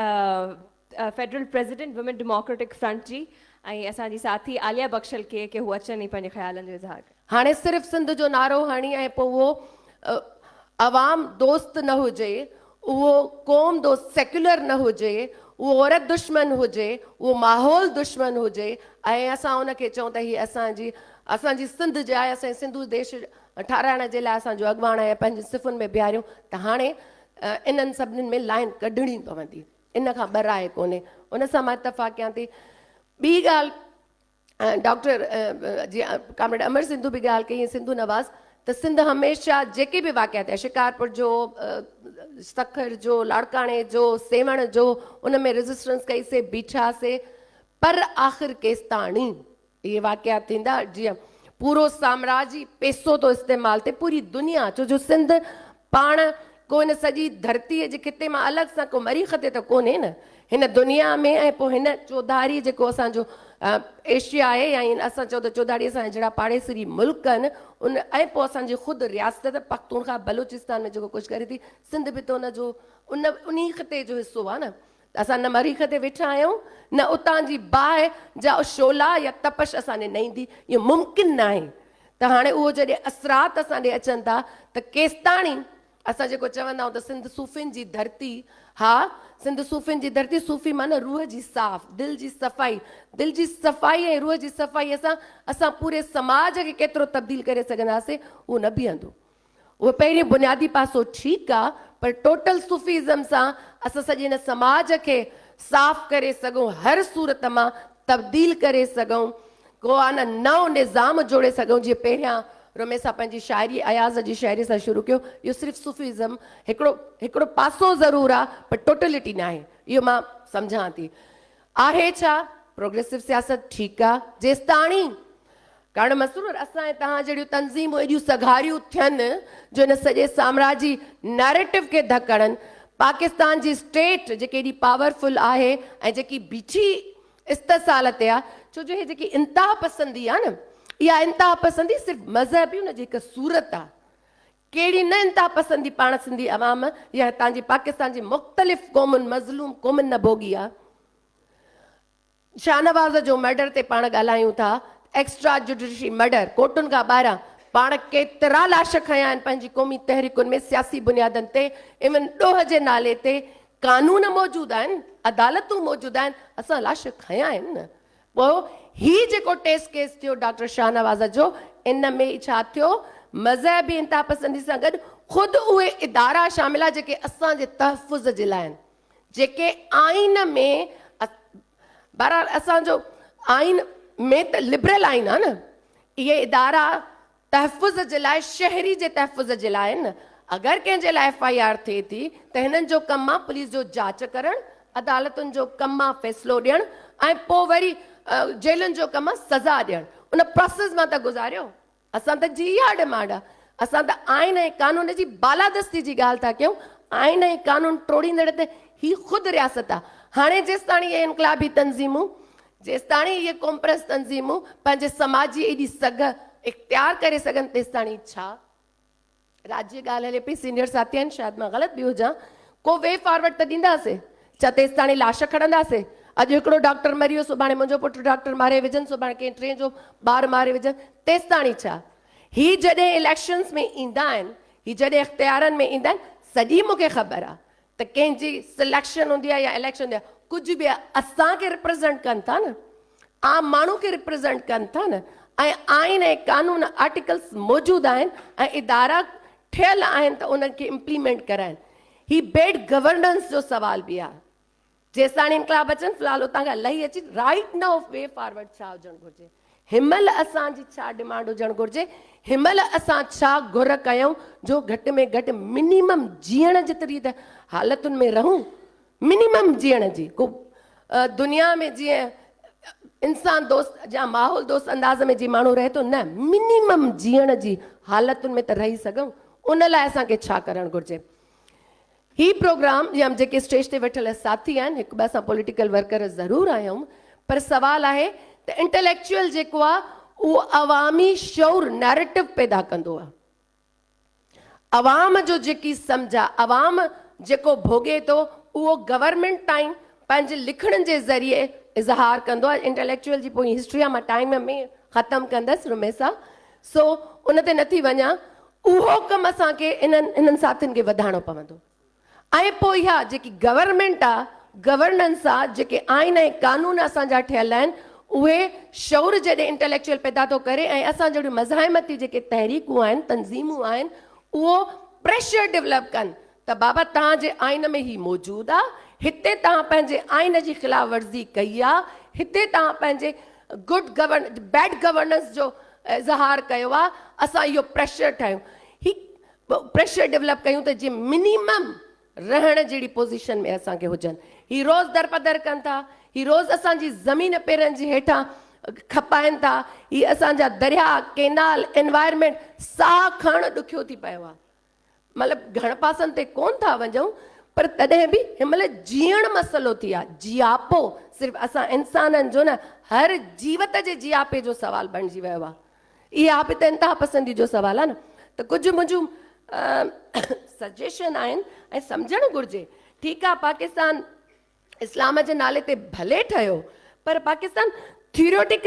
Federal president women democratic front جي ۽ اسان جي ساٿي عاليه بخشل کي ڪي هو اچن ۽ پنهنجي خيالن جو اظهار ڪن. هاڻي صرف سنڌ جو نعرو هڻي ۽ پوء اهو عوام دوست نه هجي، اهو قوم دوست سيڪيولر نه هجي، اهو عورت دشمن هجي، اهو ماحول دشمن هجي ۽ اسان ان کي چئون ته هي اسان جي اسان جي سنڌ جي آهي، اسان جي سنڌو ديش ٺهرائڻ جي لاء اسان جو اڳواڻ آهي ۽ پنهنجي صفن ۾ بيهاريون ته هاڻي انهن سڀني ۾ لائين ڪڍڻي پوندي، ان کان ٻه راء ڪونهي. ان سان مان اتفاق ڪيان ٿي. ٻي ڳالهه ڊاڪٽر جيئن ڪامريڊ امر سنڌو به ڳالهه ڪئي ۽ سنڌو نواز ته سنڌ هميشه جيڪي به واقعا ٿيا شڪارپور جو، سکر جو، لاڙڪاڻي جو، سيوهڻ جو ان ۾ ريزسٽنس ڪئي سي، بيٺا سي پر آخر ڪيستاڻي؟ اهي واقعا ٿيندا جيئن پورو سامراج ئي پيسو ٿو استعمال ٿئي پوري دنيا ڇو جو سنڌ پاڻ ڪو هن سڄي ڌرتي جي خطي مان الڳ سان ڪو مريخ تي ته ڪونهي نه هن دنيا ۾ ۽ پوء هن چوڌاري جيڪو اسان جو ايشيا آهي يا اسان چئون ته چوڌاري اسان جهڙا پاڙيسري ملڪ آهن ان ۽ پوء اسان جي خود رياست پختونخواه بلوچستان ۾ جيڪو ڪجهه ڪري ٿي سنڌ به ته ان جو ان انهي خطي جو حصو آهي نه اسان نه مريخ تي ويٺا آهيون، نه اتان جي باهه جا شعلا يا تپش اسان ڏي نئيندي، اهو ممڪن ناهي ته هاڻي اهو جڏهن اثرات اسان ڏي اچن ٿا ته ڪيستاڻي اسان جيڪو چوندا آهيون ته سنڌ صوفين جي ڌرتي، ها سنڌ صوفين جي ڌرتي، صوفي معنيٰ روح جي صاف، دل جي صفائي، دل جي صفائي ۽ روح جي صفائيء سان اسان پوري سماج کي ڪيترو تبديل ڪري سگهنداسين اهو نه بيهندو. اهو پهريون بنيادي پاسو ٺيڪ آ پر ٽوٽل صوفي ازم سان اسان سڄي هن سماج کي صاف ڪري سگهون هر صورت مان تبديل ڪري سگهون ڪو آ نه نئون نظام جوڙي سگهون جيئن پهريان رمي صاحب پنهنجي شاعري اياز جي شاعري سان شروع ڪيو اهو صرف صوفي ازم هڪڙو هڪڙو پاسو ضرور آ پر ٽوٽلٽي ناهي اهو مان سمجهان ٿي. آهي ڇا پروگريسو سياست ٺيڪ آ جيستاڻي ڪارڻ مسرور اسان ۽ توهان جهڙيون تنظيمون ايڏيون سگهاريون ٿين جو ان سڄي سامراجي نئريٽو کي ڌڪڻن پاڪستان جي اسٽيٽ جيڪي ايڏي پاور فل آهي ۽ جيڪي بيٺي استحصال تي آ ڇو جو هي جيڪي انتها پسندي آ نه اها انتها پسندي صرف مذهب ئي ان جي هڪ صورت آ ڪهڙي نه انتهاپسندي پاڻ سنڌي عوام يا هتان جي پاڪستان جي مختلف قومن مظلوم قومن نه ڀوڳي آ. شاهنواز جو مرڊر تي پاڻ ڳالهايون ٿا ايڪسٽرا جڊيشري مرڊر ڪورٽن کان ٻاهران پاڻ ڪيترا لاش کنيا آهن پنهنجي قومي تحريڪن ۾ سياسي بنيادن تي ايون ڏوهه جي نالي تي قانون موجود آهن عدالتون موجود آهن اسان لاش کنيا آهن نه پوء هي جيڪو ٽيسٽ ڪيس ٿيو ڊاڪٽر شاهنواز جو ان ۾ ڇا ٿيو مذهبي انتهاپسندي سان گڏ خود اهي ادارا شامل آهي جيڪي اسان جي تحفظ جي لاء آهن جيڪي آئين ۾ بهرحال اسان جو آئين ۾ ته لبرل آئين آهي نه اهي ادارا تحفظ جي لاء شهري جي تحفظ جي لاء نه اگر ڪنهن جي لاء ايف آء آر ٿئي ٿي ته هنن جو ڪم آ پوليس جو جاچ ڪرڻ عدالتن جو ڪم آ فيصلو ڏيڻ ۽ پو وري جيلن جو ڪم آ سزا ڏيڻ ان پراسيس مان ته گذاريو اسان ته جي اها ڊمانڊ آ اسان ته آئين ۽ قانون جي بالادستي جي ڳالهه ٿا ڪيون آئين ۽ قانون ٽوڙيندڙ ته هي خود رياست آ هاڻي جيستاڻي اهي انقلابي تنظيمون جيستاڻي اهي قومپرست تنظيمون پنهنجي سماجي ايڏي سگهه اختيار ڪري سگهن تيستاڻي ڇا راڄ جي ڳالهه هلي پئي سينيئر ساٿي آهن شايد مان غلط به هجان ڪو وي فارورڊ ته ڏينداسي ڇا تيستاڻي لاش کڻنداسي اڄ هڪڙو ڊاڪٽر مري ويو سڀاڻي منهنجو پٽ ڊاڪٽر ماري وجهن سڀاڻي ڪنهن ٽئين جو ٻار ماري وجهن تيستاڻي ڇا هي جڏهن اليڪشنز ۾ ايندا آهن هي جڏهن اختيارن ۾ ايندا آهن سڄي مون کي خبر آهي ته ڪنهن جي سليڪشن هوندي آهي يا اليڪشن هوندي آهي ڪجهه به آهي اسان کي ريپريزنٽ ڪن ٿا نه عام ماڻهو کي ريپريزنٽ ڪن ٿا نه ۽ آئين ۽ قانون آرٽيڪلس موجود آهن ۽ ادارا ٺهيل آهن ته انهن کي امپليمينٽ ڪرائن هي بيڊ گورننس جو سوال به آهي جيستاڻي انقلاب اچن في الحال اتان کان لهي اچي right now of way forward ڇا هجڻ گهرجي هنمهل اسان جي ڇا ڊمانڊ هجڻ گهرجي هنمهل اسان ڇا گهر ڪيون جو گهٽ ۾ گهٽ منيمم جيئڻ جيتري ته حالتن ۾ رهون منيمم جيئڻ جي ڪو دنيا ۾ جيئن انسان دوست جا ماحول دوست انداز ۾ جي ماڻهو رهي ٿو نه منيمم جيئڻ جي حالتن ۾ ته رهي سگهون ان لاء اسان کي ڇا ڪرڻ گهرجي هي پروگرام جي ام جيڪي اسٽيج تي ويٺل ساٿي آهن هڪ ٻئي سان پوليٽيڪل ورڪر ضرور آهيون پر سوال آهي ته انٽليڪچوئل جيڪو آ اهو عوامي شعور نيريٽو پيدا ڪندو آ عوام جو جيڪي سمجھ آ عوام جيڪو ڀوڳي ٿو اهو گورنمينٽ تائين پنهنجي لکڻ جي ذريعي اظهار ڪندو آ انٽليڪچوئل جي پوئين هسٽري آ مان ٽائيم ۾ ختم ڪندس رميسا سو ان تي نه ٿي وڃان، اهو ڪم اسان کي انهن انهن ساٿين کي وڌائڻو پوندو ۽ پوء اها جيڪي گورنمينٽ آ، گورننس آ، جيڪي آئين ۽ قانون اسان جا ٺهيل آهن، اهي شعور جڏهن انٽليڪچوئل پيدا ٿو ڪري ۽ اسان جهڙيون مزاحمتي جيڪي تحريڪون آهن، تنظيمون آهن، اهو پريشر ڊولپ ڪن ته بابا توهان جي آئين ۾ هي موجود آ، هتي توهان پنهنجي آئين جي خلاف ورزي ڪئي آ، هتي توهان پنهنجي گڊ گورن بيڊ گورننس جو اظهار ڪيو آ، اسان اهو پريشر ٺاهيون، هي پريشر ڊولپ ڪيون ته جي منيمم رهڻ جهڙي پوزيشن ۾ اسان کي هجن. هي روز درپدر ڪن ٿا، هي روز اسان جي زمين پيرن جي هيٺان کپائن ٿا، هي اسان جا درياهه، ڪينال، انوائرمينٽ ساهه کڻڻ ڏکيو ٿي پيو آ. مطلب گهڻ پاسن تي ڪون ٿا وڃون پر تڏهن به هن مهل جيئڻ مسئلو ٿي آ جياپو صرف اسان انسانن جو نه هر جيوت جي جياپي جو سوال بڻجي ويو آ اها به ته انتها پسندي جو سوال آ نه ته ڪجهه منهنجون سجيشن آهن ۽ سمجهڻ گهرجي ٺيڪ آ پاڪستان اسلام جي نالي تي ڀلي ٺهيو پر پاڪستان ٿيوريوٽڪ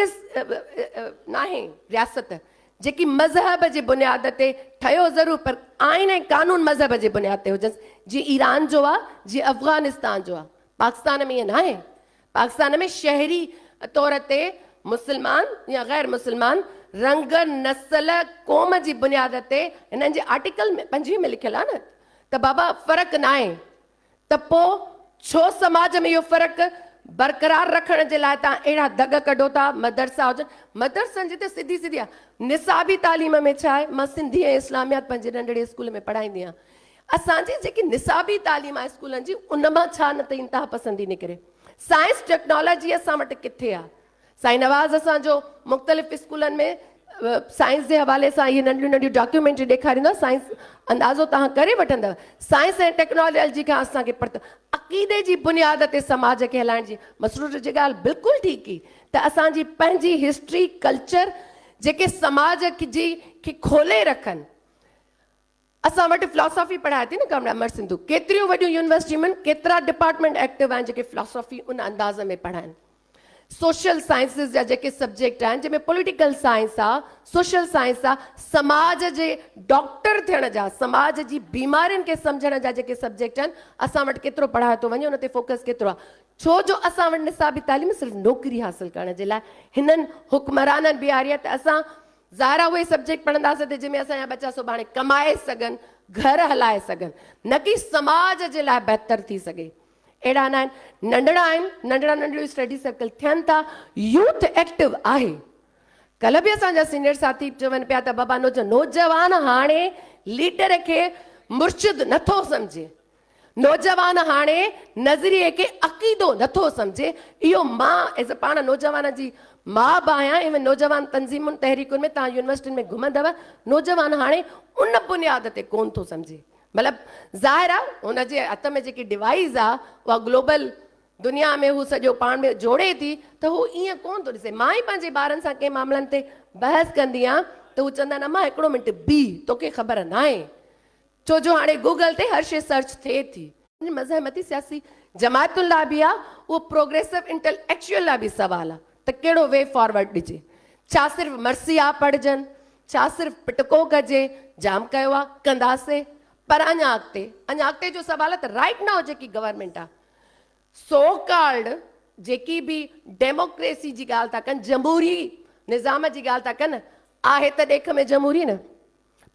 ناهي رياست جيڪي مذهب جي بنياد تي ٺهيو ضرور پر آئين ۽ قانون مذهب جي بنياد تي هجنس جي ايران جو آ جي افغانستان جو آ پاڪستان ۾ ائين ناهي پاڪستان ۾ شهري طور تي مسلمان يا غير مسلمان رنگ نسل قوم جي بنياد تي هنن جي آرٽيڪل ۾ پنجويهه ۾ لکيل آ نه ته بابا فرق ناهي ته پوء ڇو سماج ۾ اهو فرق برقرار رکڻ جي لاء توهان اهڙا دڳ ڪڍو ٿا، مدرسا هجن، مدرسن جي ته سڌي سڌي آهي، نصابي تعليم ۾ ڇا آهي، مان سنڌي ۽ اسلاميات پنهنجي ننڍڙي اسڪول ۾ پڙهائيندي آهيان، اسان جي جيڪي نصابي تعليم آهي اسڪولن جي ان مان ڇا نه ته انتها پسندي نڪري، سائنس ٽيڪنالاجي اسان وٽ ڪٿي آهي. سائين نواز اسان جو مختلف اسڪولن ۾ سائنس جي حوالي سان اهي ننڍيون ننڍيون ڊاڪيومينٽري ڏيکاريندا سائنس اندازو توهان ڪري وٺندؤ سائنس ۽ ٽيڪنالاجي کان اسان کي پرت عقيدي جي بنياد تي سماج کي هلائڻ جي مسرور جي ڳالهه بلڪل ٺيڪ هئي ته اسان جي پنهنجي هسٽري ڪلچر جيڪي سماج جي کي کولي رکن اسان وٽ فلاسافي پڙهائي ٿي نه ڪامريڊ امر سنڌو ڪيتريون وڏيون يونيورسٽيون ۾ ڪيترا ڊپارٽمينٽ ايڪٽو آهن جيڪي فلاسافي ان انداز ۾ پڙهائين سوشل سائنسز جا جيڪي سبجيڪٽ آهن جنهن ۾ پوليٽيڪل سائنس آ سوشل سائنس آ سماج جي ڊاڪٽر ٿيڻ جا سماج جي بيمارين کي سمجهڻ جا جيڪي سبجيڪٽ آهن اسان وٽ ڪيترو پڙهايو ٿو وڃي ان تي فوڪس ڪيترو آ ڇو جو اسان وٽ نصابي تعليم صرف نوڪري حاصل ڪرڻ جي لاء هنن حڪمرانن بيهاري آ ته اسان ظاهر آهي اهي سبجيڪٽ پڙهنداسين ته جنهن ۾ اسان جا ٻچا سڀاڻي ڪمائي سگهن، گهر هلائي سگهن، نه ڪي سماج جي لاء بهتر ٿي سگهي. اهڙا نه آهن، ننڍڙا آهن، ننڍڙا ننڍڙيون اسٽڊي سرڪل ٿين ٿا، يوٿ ايڪٽو آهي. ڪلهه به اسان جا سينيئر ساٿي چون پيا ته بابا نوجوان هاڻي ليڊر کي مرشد نٿو سمجهي، نوجوان هاڻي نظريي کي عقيدو نٿو سمجهي اهو مان ايز پاڻ نوجوان جي ماء به آهيان اهي نوجوان تنظيمون تحريڪن ۾ توهان يونيورسٽين ۾ گهمندو نوجوان هاڻي ان بنياد تي ڪون ٿو سمجهي مطلب ظاهر آ هن جي هٿ ۾ جيڪي ڊوائيز آ اها گلوبل دنيا ۾ هو سڄو پاڻ ۾ جوڙي ٿي ته هو ايئن ڪون ٿو ڏسي مان ئي پنهنجي ٻارن سان ڪنهن معاملن تي بحث ڪندي آهيان ته هو چوندا آهن اما هڪڙو منٽ بيهه توکي خبر ناهي ڇو جو هاڻي گوگل تي هر شيء سرچ ٿئي ٿي. مزاحمتي سياسي جماعتن لاء به آ، اهو پروگريسو انٽليڪچوئل لاء به سوال آ ته ڪهڙو وي فارورڊ ڏجي. ڇا صرف مرثي آ پڙهجن، ڇا صرف پٽڪو ڪجي، جام ڪيو آ، ڪنداسي پر اڃا اڳتي، اڃا اڳتي جو سوال آ ته رائيٽ نائو جيڪي گورنمينٽ آ، سو ڪالڊ جيڪي به ڊيموڪريسي جي ڳالهه ٿا ڪن، جمهوري نظام جي ڳالهه ٿا ڪن، آهي ته ڏيک ۾ جمهوري نه.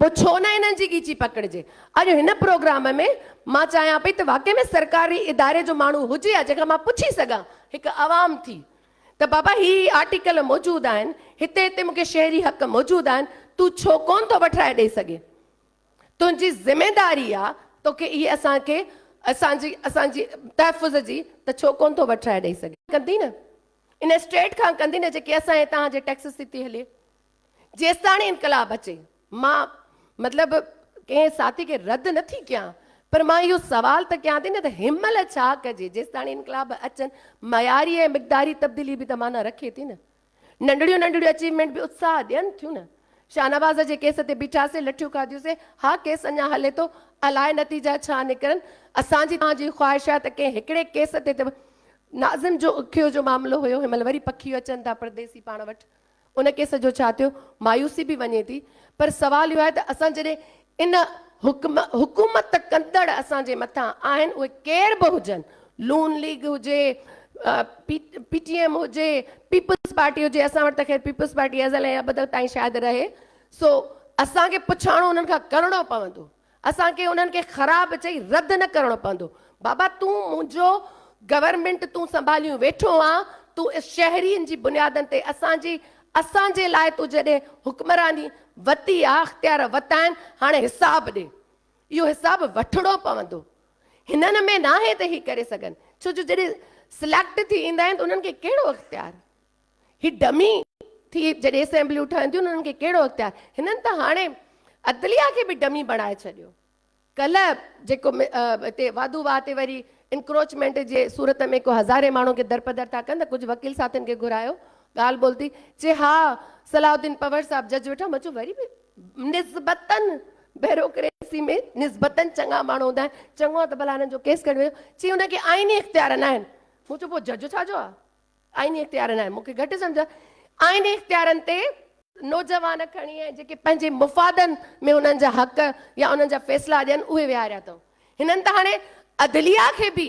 پوء ڇو نه انهن جي ڳيچي پڪڙجي. اڄ هن پروگرام ۾ مان چاهيان پئي ته واقعي ۾ سرڪاري اداري جو ماڻهو هجي ها جنهن کان مان پڇي سگهان هڪ عوام ٿي ته بابا هي هي آرٽيڪل موجود آهن هتي هتي مون کي شهري حق موجود آهن تون ڇو ڪون ٿو وٺرائي ڏئي سگهي تنهنجي ذميداري آ توکي اهي اسان کي اسان جي اسان جي تحفظ جي ته ڇو ڪون ٿو وٺرائي ڏئي سگهي. ڪندي نه ان اسٽيٽ کان ڪندي نه جيڪي اسان هتان جي ٽيڪسز تي ٿي هلي. جيستاڻي انقلاب اچي مان مطلب ڪنهن ساٿي کي رد نه ٿي ڪيان پر مان اهو سوال ته ڪيان ٿي نه ته هن مهل ڇا ڪجي جيستاڻي انقلاب اچن معياري ۽ مقداري تبديلي به ته معنيٰ رکي ٿي نه ننڍڙيون ننڍڙيون اچيومينٽ به اتساهه ڏين ٿيون نه شاهنواز جي ڪيس تي بيٺاسين لٺيون کاڌيوسين ها ڪيس اڃا هلي ٿو الاء نتيجا ڇا نڪرن اسان جي توهان جي خواهش آهي ته ڪنهن هڪڙي ڪيس تي ته ناظم جو اکيو جو معاملو هيو هن مهل وري پکيو اچن ٿا پرديسي پاڻ وٽ ان ڪيس جو ڇا ٿيو؟ مايوسي به وڃي ٿي پر سوال اهو آهي ته اسان جڏهن ان حڪم حڪومت ڪندڙ اسان جي مٿان آهن اهي ڪير به هجن نون ليگ هجي پي پي ٽي ايم هجي پيپلز پارٽي هجي اسان وٽ ته خير پيپلز پارٽي ازل ۽ ابد تائين شايد رهي سو اسان کي پڇاڻو انهن کان ڪرڻو پوندو اسان کي انهن کي خراب چئي رد نه ڪرڻو پوندو. بابا تون منهنجو گورنمينٽ تون سنڀاليون ويٺو آن تون اس شهرين جي بنيادن تي اسان جي اسان جي لاء تو جڏهن حڪمراني وتي آ اختيار وتا آهن هاڻي حساب ڏي اهو حساب وٺڻو پوندو هنن ۾ ناهي ته هي ڪري سگهن ڇو جو جڏهن سليڪٽ ٿي ايندا آهن ته انهن کي ڪهڙو اختيار هي ڊمي ٿي جڏهن اسيمبليون ٺهن ٿيون انهن کي ڪهڙو اختيار هنن ته هاڻي عدليه کي به ڊمي بڻائي ڇڏيو ڪلهه جيڪو هتي وادو واهه تي وري انڪروچمينٽ جي صورت ۾ ڪو هزارين ماڻهو کي درپدر ٿا ڪن ته ڪجهه وڪيل ساٿين کي گهرايو ڳالهه ٻولهه ٿي چي ها صلاح الدين پنور صاحب جج ويٺا مچو وري به نسبتن بيروڪريسي ۾ نسبتن چڱا ماڻهو هوندا آهن چڱو ته ڀلا هنن جو ڪيس کڻي ويو چي هن کي آئيني اختيار نه آهن مون چيو پوء جج ڇا جو آهي آئيني اختيارن آهي مون کي گهٽ سمجهه آئيني اختيارن تي نوجوان کڻي ۽ جيڪي پنهنجي مفادن ۾ انهن جا حق يا انهن جا فيصلا ڏين اهي ويهاريا اٿئون هنن ته هاڻي عدليه کي به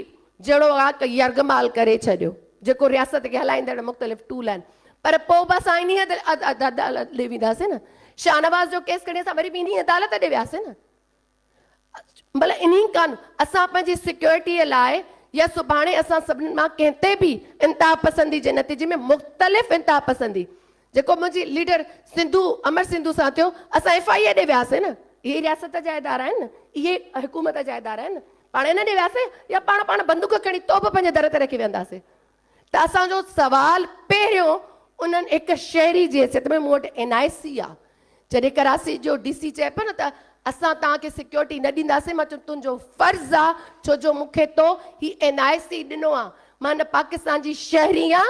جهڙوڪ يرغمال ڪري ڇڏيو جيڪو رياست کي هلائيندڙ مختلف ٽول آهن پر پوء به اسان انهي عدالت ڏي وينداسين نه شاهنواز جو ڪيس کڻي اسان وري به انهي عدالت ڏي وياسين نه بله انهي کان اسان پنهنجي سيڪيورٽيء لاء يا سڀاڻي اسان سڀني مان ڪنهن تي به انتهاپسندي جي نتيجي ۾ مختلف انتهاپسندي جيڪو منهنجي ليڊر سنڌو امر سنڌو سان ٿيو اسان ايف آء اي ڏي وياسين نه اهي ئي رياست جا ادارا آهن نه اهي ئي حڪومت جا ادارا آهن نه پاڻ انهن ڏي وياسين يا پاڻ پاڻ بندوق کڻي توب پنهنجي در تي رکي ويهنداسين ته اسان جو سوال پهريون انهن هڪ شهري جي حيثيت ۾ مون وٽ اين آء سي آ. جڏهن ڪراسي جو ڊي سي چئي پيو نه ته اسان توهان کي سيڪيورٽي نه ڏينداسين مان چيم تنهنجو فرض آ ڇو جو مون کي تو هي اين آء سي ڏنو آ مان هن پاڪستان جي شهري آ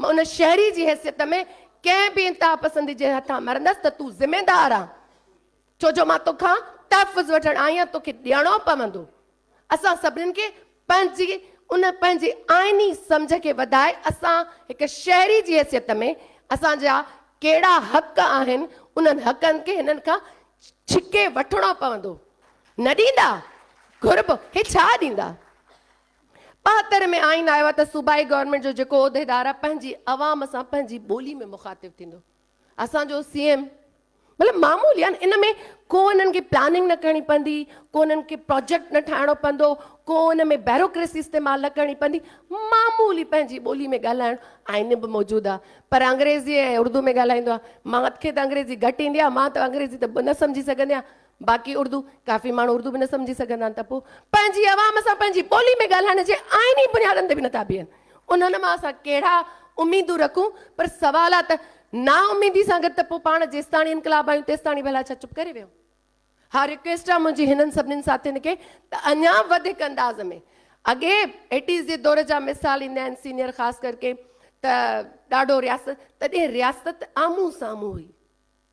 مان ان شهري جي حيثيت ۾ ڪنهن به انتهاپسندي جي هٿان مرندس ته تون ذميدار آ ڇو جو مان توکان تحفظ وٺڻ آئي آ توکي ڏيڻو پوندو اسان سڀني کي پنهنجي ان پنهنجي آئيني سمجهه کي وڌائي اسان هڪ شهري جي حيثيت ۾ اسان جا ڪهڙا حق آهن انهن حقن کي هنن کان ڇڪي وٺڻو پوندو نه ڏيندا گهربو هي ڇا ڏيندا ٻاهتر ۾ آئين آيو آهي ته صوبائي گورنمينٽ جو جيڪو عهديدار آهي پنهنجي عوام سان پنهنجي ٻولي ۾ مخاطب ٿيندو اسان جو سي ايم مطلب معمولي يعني ان ۾ ڪو انهن کي پلاننگ نه ڪرڻي پوندي ڪو انهن کي پروجيڪٽ نه ٺاهڻو پوندو ڪو ان ۾ بيروڪريسي استعمال نه ڪرڻي پوندي معمولي پنهنجي ٻولي ۾ ڳالهائڻ آئين به موجود آ پر انگريزي ۽ اردو ۾ ڳالهائيندو آ مان کي ته انگريزي گهٽ ايندي آ مان ته انگريزي ته نه سمجهي سگهندي آ باقي اردو ڪافي ماڻهو اردو به نه سمجهي سگهندا آهن ته پوء پنهنجي عوام سان پنهنجي ٻولي ۾ ڳالهائڻ جي آئيني بنيادن تي به نٿا بيهن انهن مان اسان ڪهڙا اميدون رکون پر سوال آهي ته نااميدي سان گڏ ته پوء پاڻ جيستاڻي انقلاب آيون تيستاڻي ڀلا ڇا چپ ڪري ويهون ها رڪويسٽ آهي منهنجي هنن سڀني ساٿين کي ته اڃا وڌيڪ انداز ۾ اڳي ايٽيز جي دور جا مثال ايندا آهن سينيئر خاص ڪر ڪي ته ڏاڍو رياست تڏهن رياست آمهون سامهون هئي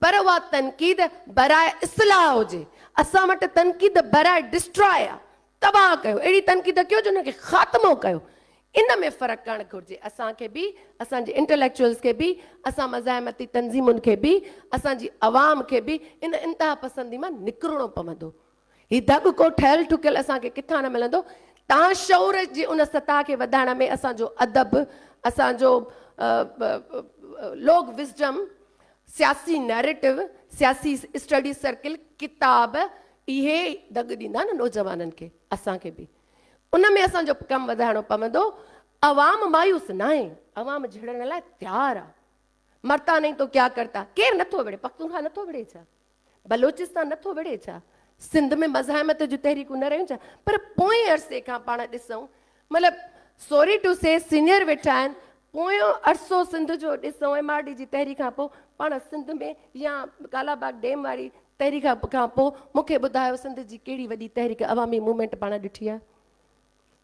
پر اها تنقيد براء اصلاح هجي. اسان وٽ تنقيد براء ڊسٽراء آ، تباهه ڪيو، اهڙي تنقيد ڪيو جو ان کي خاتمو ڪيو. ان ۾ فرق ڪرڻ گهرجي. اسان کي به، اسان جي انٽليڪچوئلز کي به، اسان مزاحمتي تنظيمن کي به، اسان جي عوام کي به ان انتهاپسندي مان نڪرڻو پوندو. هي دڳ ڪو ٺهيل ٺڪيل اسان کي ڪٿان نه ملندو. تان شعور جي ان سطح کي وڌائڻ ۾ اسان جو ادب، اسان جو لوڪ وزڊم، سياسي نيريٽو، سياسي اسٽڊي سرڪل، ڪتاب، اهي دڳ ڏيندا نه نوجوانن کي، اسان کي به ان ۾ اسان جو ڪم وڌائڻو پوندو. عوام مايوس ناهي، عوام جهڙڻ لاء تيار آ. مرتا نهين تو ڪيا ڪرتا، ڪير نٿو وڙهي، پختونخوا نٿو وڙهي ڇا؟ بلوچستان نٿو وڙهي ڇا؟ سنڌ ۾ مزاحمت جون تحريڪون نه رهيون ڇا؟ پر پوئين عرصي کان پاڻ ڏسون مطلب سوري ٽو سي سينئر ويٺا آهن پويون عرصو سنڌ جو ڏسون ايم آر ڊي جي تحريڪ کان پوء پاڻ سنڌ ۾ يا ڪالا باغ ڊيم واري تحريڪ کان پوء مون کي ٻڌايو سنڌ جي ڪهڙي وڏي تحريڪ عوامي موومينٽ پاڻ ڏٺي آهي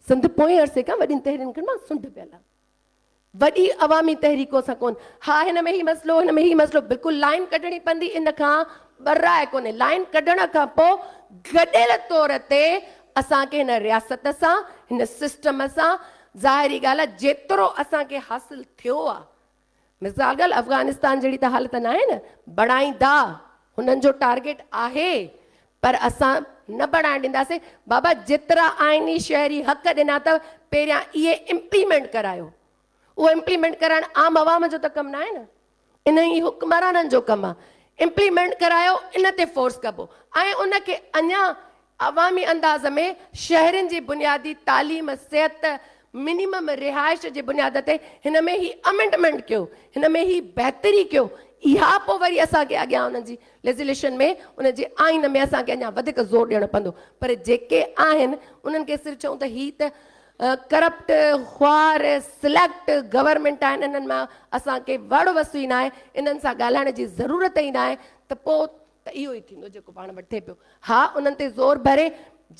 سنڌ پوئين عرصي کان وڏين تحريڪن مان سنڊ پيل آهي وڏي عوامي تحريڪون سان ڪون ها هن ۾ هي مسئلو هن ۾ هي مسئلو بلڪل لائين ڪڍڻي پوندي ان کان براء ڪونهي لائين ڪڍڻ کان پو گڏيل طور تي اسان کي هن رياست سان هن سسٽم سان ظاهري ڳالهه آ جيترو اسان کي حاصل ٿيو آ مزاغل افغانستان جهڙي ته حالت ناهي نه بڻائيندا هنن جو ٽارگيٽ آهي پر اسان نه بڻائڻ ڏينداسين بابا جيترا آئيني شهري حق ڏنا اٿو پهريان اهي امپليمينٽ ڪرايو اهو امپليمينٽ ڪرائڻ عام عوام جو ته ڪم ناهي نه انهي حڪمرانن جو ڪم آهي امپليمينٽ ڪرايو ان تي فورس ڪبو ۽ ان کي اڃا عوامي انداز ۾ شهرين جي بنيادي تعليم، صحت، منيمم رهائش جي بنياد تي هن ۾ هي امينڊمينٽ ڪيو، هن ۾ هي بهتري ڪيو، اها پوء وري اسان کي اڳيان انهن جي ليزليشن ۾ ان جي آئين ۾ اسان کي اڃا وڌيڪ زور ڏيڻو پوندو پر جيڪي آهن انهن کي صرف چئون ته هي ته ڪرپٽ، خوار، سليڪٽ گورنمينٽ آهن انهن مان اسان کي وڙ وسوئي ناهي، انهن سان ڳالهائڻ جي ضرورت ئي ناهي ته پوء ته اهو ئي ٿيندو جيڪو پاڻ وٺي پيو. ها انهن تي زور ڀري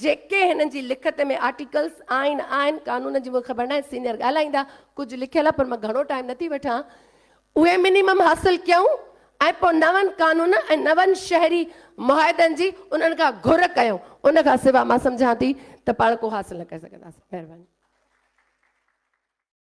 جيڪي هنن جي لکت ۾ آرٽيڪلز آهن آهن قانون جي مون کي خبر ناهي سينئر ڳالهائيندا ڪجهه لکيل آهي پر مان گهڻو ٽائيم نٿي وٺان اهي منيمم حاصل ڪيون ۽ پوء نون قانون ۽ نون شهري معاهدن جي انهن کان گهر ڪيون ان کان سوا مان سمجهان ٿي ته پاڻ ڪو حاصل نه ڪري سگهنداسين مهرباني.